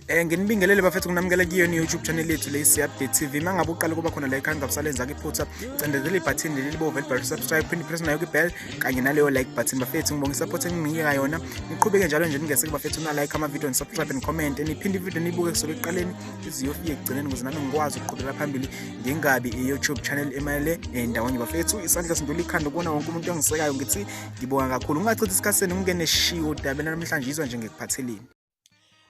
Eh nginibingelele bafethu nginamukele kiyo ni YouTube channel yethu le Update TV. Mangabe uqala kuba khona la ekhaya ngabusalenza ke phutha. Cindezela ibutton leli libove libhale subscribe phinde press nayo ke bell kanye naleyo like button bafethu ngibonga support enginika yona. Niqhubeke njalo nje ningese kubafethu na like ama video and subscribe and comment. Niphinde video nibuke kusukela eqaleni iziyofike ekugcineni ukuze nami ngikwazi ukuqhubeka phambili ngingabi i-YouTube channel emayele endawonye bafethu. Isandla sindula ikhanda kubona wonke umuntu ongisekayo ngithi ngibonga kakhulu. Ungachithi isikhathi senu ngingene shiwo dabela namhlanje izwa nje ngikuphatheleni.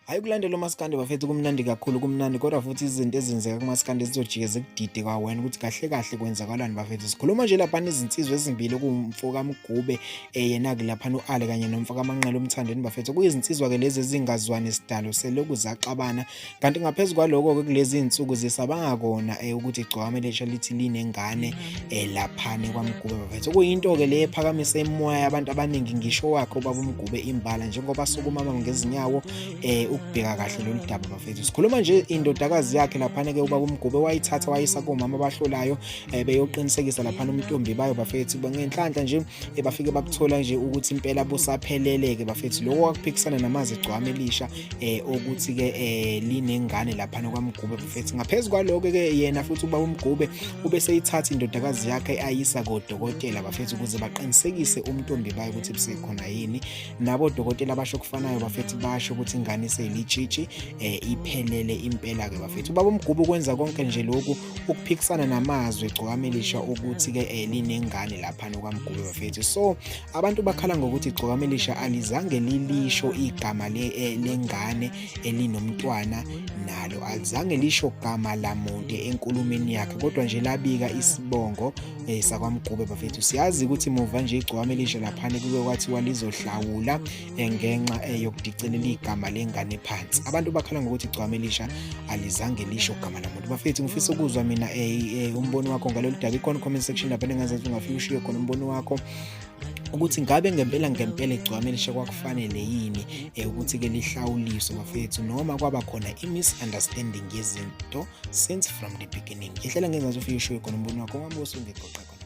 hayi kulandela umaskandi bafethu kumnandi kakhulu kumnandi kodwa futhi izinto ezenzeka kumaskandi zizojike zikudide kwawena ukuthi kahle kahle kwenzakalani bafethu sikhuluma nje laphana izinsizwa ezimbili kuwumfo kamgube eh, yena ke laphana u-ale kanye nomfo kamanqela umthandeni bafethu kuyizinsizwa-ke lezi ezingazwani sidalo seloku zaxabana kanti ngaphezu kwaloko-ke kulezi zinsuku zisabanga kona um ukuthi igcwame lesha lithi linengane um eh, laphane kwamgube bafethu okuyinto-ke le ephakamisa imimoya yabantu abaningi ngisho wakhe ubaba umgube imbala njengoba sukumama ngezinyawo um ukubheka kahle lolu daba bafethu sikhuluma nje indodakazi yakhe laphane-ke ubaba umgube wayithatha wayisa komama abahlolayo um beyoqinisekisa laphana umntombi bayo bafethu ngenhlanhla nje bafike bakuthola nje ukuthi impela busaphelele-ke bafethu loko wakuphikisana namazi igcwame elisha eh ukuthi ke eh linengane lapha nokwamgube mfethu ngaphezulu kwaloko ke yena futhi uba umgube ube seyithatha indodakazi yakhe ayisa kodokotela bafethu ukuze baqinisekise umntombi bayo ukuthi busekhona yini nabo dokotela basho kufanayo bafethu basho ukuthi ingane seyilitshishi eh iphelele impela ke bafethu ubaba umgube ukwenza konke nje lokhu ukuphikisana namazwi igcokame lisho ukuthi ke eh, linengane lapha nokwamgube bafethu so abantu bakhala ngokuthi igcokame lisha alizange lilisho igama le eh, lengane elinomntwana nalo alizange lisho gama lamuntu enkulumeni yakhe kodwa nje labika isibongo eh, sakwamgube bafethu siyazi ukuthi muva nje igcokame lisha laphana kuke kwathiwa lizohlawula ngenxa eyokudicilela igama lengane phansi abantu bakhala ngokuthi igcwame lisha alizange lisho gama lamuntu bafethu ngifisa ukuzwa mina eh, eh, umbono wakho ngalolu daba ikhona comment section lapho engingazazi ungafika ushiye khona umbono wakho ukuthi ngabe ngempela ngempela igcwame lishe kwakufanele yini eh, ukuthi-ke lihlawuliswe bafethu noma kwaba khona i-misunderstanding yezinto since from the beginning ngihlela ngengazi ufike ushiye khona umbono wakho wami osungegoqa khona